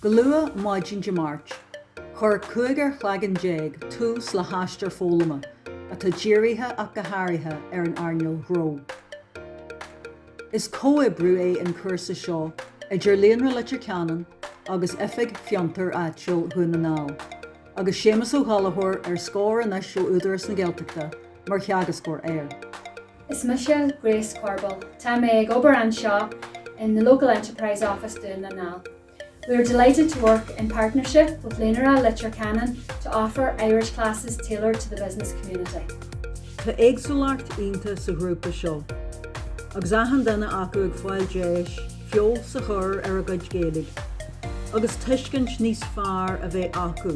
Go luath maidin Dé Máirt, chuir cúig chloigeann déag tús le haistear foghlama atá dírithe ach go háirithe ar an earnáil ghnó. Is comhoibriú é an cúrsa seo idir Líonra Leitir Ceanainn agus Oifig Fiontair Áitiúil Dhún na nGall, agus Séamus Ó Gallachóir, ar scor anois ó Údarás na Gaeltachta, mar theagascóir air. Is mise Grace Corbell. Tá mé ag obair anseo in the local Enterprise Office Dún na nGall. We are delighted to work in partnership with Líonra Leitir Ceanainn to offer Irish classes tailored to the business community. Tá éagsúlacht iontach sa ghrúpa seo agus achan duine acu ag fáil deis feabhas a chur ar a gcuid Gaeilge agus tuiscint níos fearr a bheith acu